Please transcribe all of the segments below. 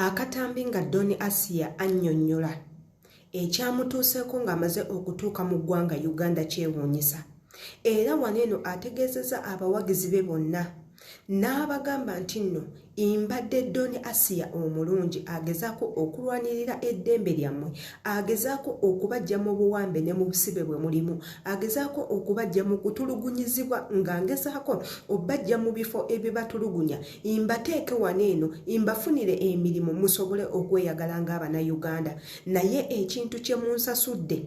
Akatambi nga Don Asiya annyonnyola ekyamutuuseeko ng'amaze okutuuka mu ggwanga Uganda kyewuunyisa era wano eno ategeezezza abawagizi be bonna n'abagamba nti nno imbadde doni asiya omulungi agezaako okulwanirira eddembe lyammwe agezaako okubajja mu buwambe ne mu busibe bwe mulimu agezaako okubajja mu kutulugunyizibwa nga ngezaako obajja mu bifo ebibatulugunya imbateeke wano eno imbafunire emirimu musobole okweyagala ng'abanauganda naye ekintu kye munsasudde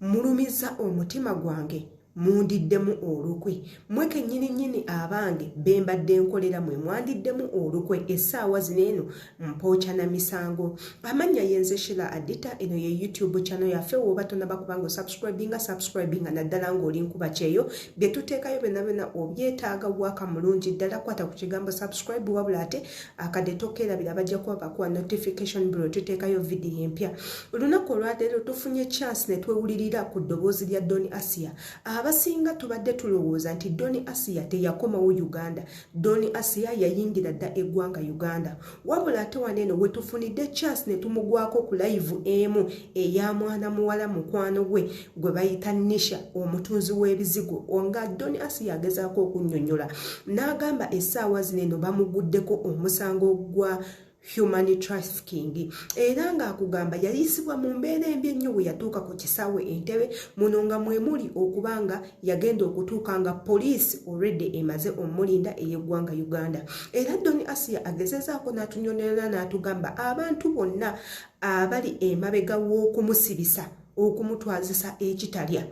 mulumiza omutima gwange mundiddemu olukwe mwe kennyini nnyini abange be mbadde nkolera mwe mwandiddemu olukwe essaawa zino eno mpooca na misango amannya yenze shila adita eno ye youtube channel yaffe woba tonaba kubanga osubscribinga subscribinga naddala ng'oli nkuba kyeyo bye tuteekayo byonna byonna obyetaaga waaka mulungi ddala kwata ku kigambo subscribe wabula ate akadde tokeerabira bajja kuba bakuwa notification biro tuteekayo vidiyo empya olunaku olwaleero tufunye chance ne twewulirira ku ddoboozi lya doni asia abasinga tubadde tulowooza nti doni asia teyakomawo uganda Doni Asiya yayingira dda eggwanga Uganda wabula ate wano eno wetufunidde chance ne tumugwako ku layivu emu eya mwana muwala mukwano gwe gwe bayita Nisha omutunzi w'ebizigo nga Doni Asiya agezaako okunnyonnyola n'agamba essaawa zino eno bamuguddeko omusango gwa human trafficking era ng'akugamba yayisibwa mu mbeera embi ennyo bwe yatuuka ku kisaawe entebe muno nga mwemuli okuba nga yagenda okutuuka nga poliisi olwedde emaze omulinda ey'eggwanga uganda era doni asiya agezezaako n'atunyonyola n'atugamba abantu bonna abali emabega w'okumusibisa okumutwazisa ekitalya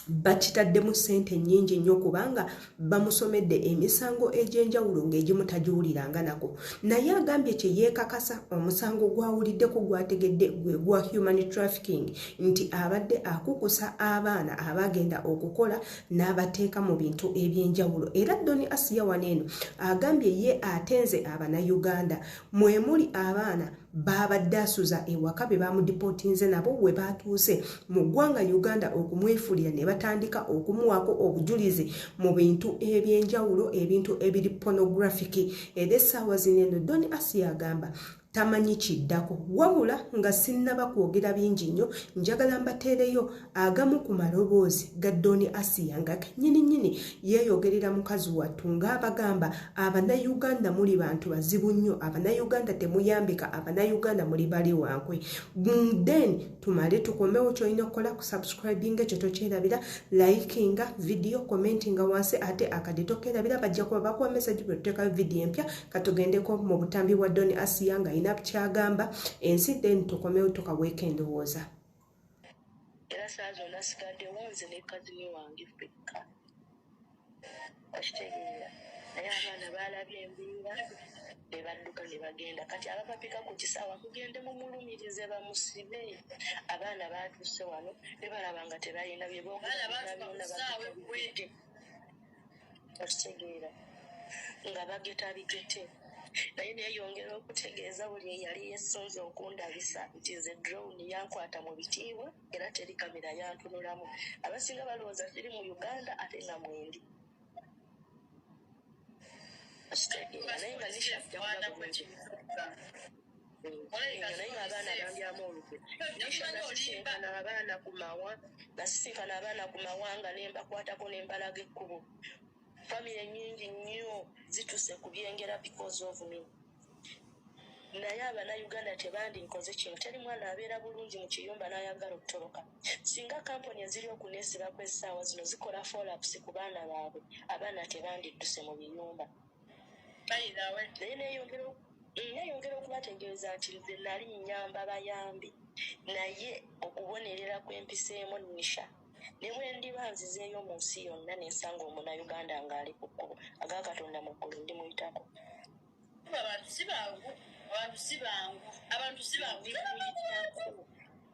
bakitaddemu ssente nnyingi nnyo kubanga bamusomedde emisango egy'enjawulo ng'egimu tagiwuliranga nako naye agambye kye yeekakasa omusango gwawuliddeko gwategedde gwe gwa human trafficking nti abadde akukusa abaana abagenda okukola n'abateeka mu bintu eby'enjawulo era doni asiya wano eno agambye ye atenze abanayuganda mwe muli abaana baabadde asuza ewaka be baamudipotinze nabo we baatuuse mu ggwanga uganda okumwefulira ne batandika okumuwaako obujulizi mu bintu eby'enjawulo ebintu ebiri pornographic era essaawa zino eno don asi agamba tamanyi kiddako wabula nga sinnaba kwogera bingi nnyo njagala mbateereyo agamu ku maloboozi ga doni asiya nga kenyini nyini yeeyogerera mukazi wattu ng'abagamba abanayuganda muli bantu bazibu nnyo abanayuganda temuyambika abanayuganda muli bali wankwe then tumale tukomewo kyolina okukola ku subscribing ekyo tokyerabira likinga vidiyo commentinga wansi ate akadde tokerabira bajja kuba bakuwa mesaji bwe tuteekayo vidiyo empya katugendeko mu butambi bwa doni asiya nga yina kyagamba ensi then tukomewo tukaweeka endowooza era saa zonna sigaddewo nze ne kazini wange fekka okitegeera naye abaana baalabye embeera ne badduka ne bagenda kati abapapika ku kisaawa mugende mumulumirize bamusibe abaana baatuuse wano ne balaba nga tebalina bye boogera byonna babitadde. okitegeera nga bageta bigete naye neyongera okutegeeza buli eyali yesunze okundabisa nti nze drown yankwata mu bitiibwa era teri kamera yantunulamu abasinga balowooza kiri mu uganda ate nga mwendi okitegeera naye nga nishakuaa abaana ku mawa nasisinkana abaana ku mawanga ne mbakwatako ne mbalaga ekkubo famire nyingi nnyo zituse ku byengera because of me naye abanauganda tebandinkoze kino teri mwana abeera bulungi mu kiyumba n'ayagala okutoloka singa kampuni eziri okuneesibako essaawa zino zikola folapusi ku baana baabwe abaana tebandidduse mu biyumba naye neyongera neyongera okubategeeza nti nze nali nyamba bayambi naye okubonerera kwempiseemu nisha ne bwe ndiba nzizeeyo mu nsi yonna ne nsanga omunauganda ng'ali ku kkubo aga katonda mu ggulu ndi muyitako abantu si bangu abantu si bangu abantu si bangu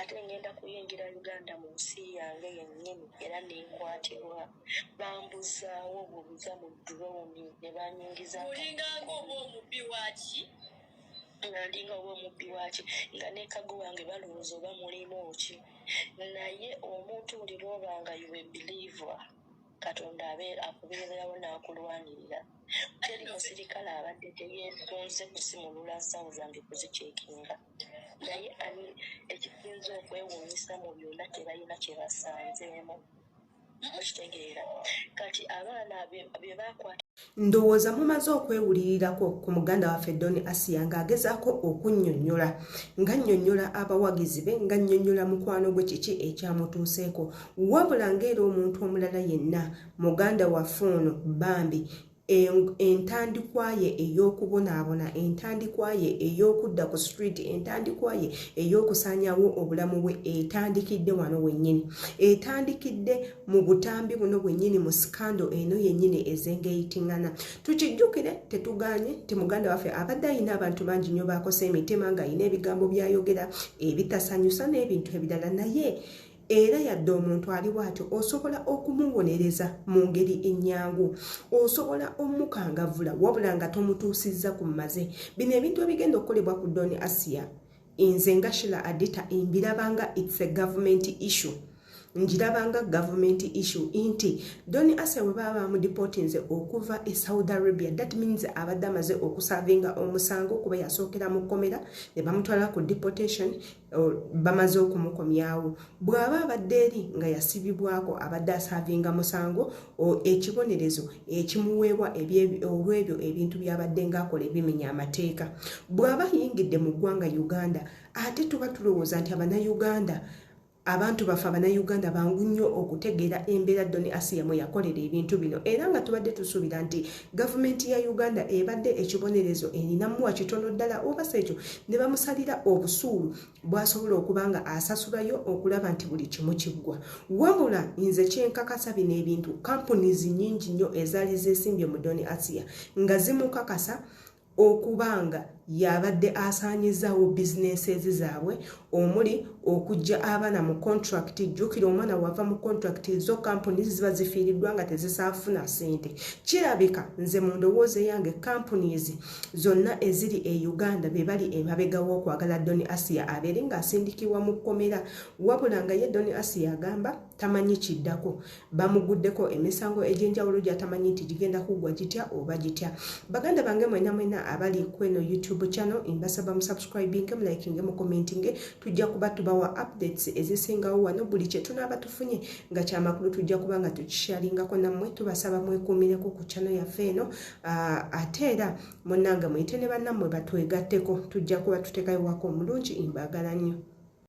ate ngenda kuyingira uganda mu nsi yange yennyini era nenkwatibwa bambuzaawo bubuza mu droni ne banyingizaolinganga oba omubbi waki nga ndinga oba omubbi waki nga nekago wange balowooza oba mulimu ki naye omuntu buli lwoba nga yuwe believer katonda abe akubeererawo n'akulwanirira teri musirikale abadde teyeetonze kusimulula nsawo zange kuzikyekinga naye ani ekisinza okwewuunyisa mu byonna tebalina kye basanzeemu okitegeera kati abaana bye bakwata ndowooza mumaze okwewulirirako ku muganda waffe don asiya ng'agezaako okunnyonnyola nga nnyonnyola abawagizi be nga nnyonnyola mukwano gwe kiki ekyamutuuseeko wabula ng'era omuntu omulala yenna muganda waffe ono bambi entandikwa ye ey'okubonaabona entandikwa ye ey'okudda ku street entandikwa ye ey'okusanyawo obulamu bwe etandikidde wano wennyini etandikidde mu butambi buno bwennyini mu sikando eno yennyini ezengeyitingana tukijjukire tetuganye nti muganda waffe abadde ayina abantu bangi nnyo baakosa emitima ng'ayina ebigambo byayogera ebitasanyusa n'ebintu ebirala naye era yadde omuntu ali bw'atyo osobola okumuwonereza mu ngeri ennyangu osobola omukangavula wabula nga tomutuusizza ku maze bino ebintu ebigenda okukolebwa ku doni asiya nze nga shila adita mbirabanga its a government issue ngirabanga government issue nti doni asiya bwe baba bamudipotinze okuva e saudi arabia that means abadde amaze okusavinga omusango kuba yasookera mu kkomera ne bamutwala ku deportation bamaze okumukomyawo bw'aba abadde eri nga yasibibwako abadde asaavinga musango ekibonerezo ekimuweebwa olw'ebyo ebintu by'abadde ng'akola ebimenya amateeka bw'aba ayingidde mu ggwanga uganda ate tuba tulowooza nti abanayuganda abantu baffe abanayuganda bangu nnyo okutegeera embeera doni asiya mwe yakolera ebintu bino era nga tubadde tusuubira nti gavumenti ya uganda ebadde ekibonerezo erinamuwa kitono ddala oba sekyo ne bamusalira obusuulu bwasobola okuba nga asasulayo okulaba nti buli kimu kiggwa wabula nze kyenkakasa bino ebintu kampunizi nyingi nnyo ezaali zesimbye mu doni asiya nga zimukakasa okuba nga y'abadde asaanyizaawo businesses zaabwe omuli okujja abaana mu contract jjukira omwana wava mu contract zo kampuni ziba zifiiriddwa nga tezisaafuna sente kirabika nze mu ndowooza eyange companies zonna eziri e uganda be bali emabegawo okwagala doni asia abeere ng'asindikibwa mu kkomera wabula nga ye doni asia agamba tamanyi kiddako bamuguddeko emisango egy'enjawulo gyatamanyi nti gigenda kuggwa gitya oba gitya baganda bange mwena mwena abali kweno youtube channel mbasaba musubscribinge mulikinge mukommentinge tujja kuba tubawa updates ezisingawo wano buli kyetunaaba tufunye nga kyamakulu tujja kuba nga tukishalingako nammwe tubasaba mwekuumireko ku channel yaffe eno ah, ate era munange muyite ne bannammwe batwegatteko tujja kuba tutekayo wako omulungi mbagala nnyo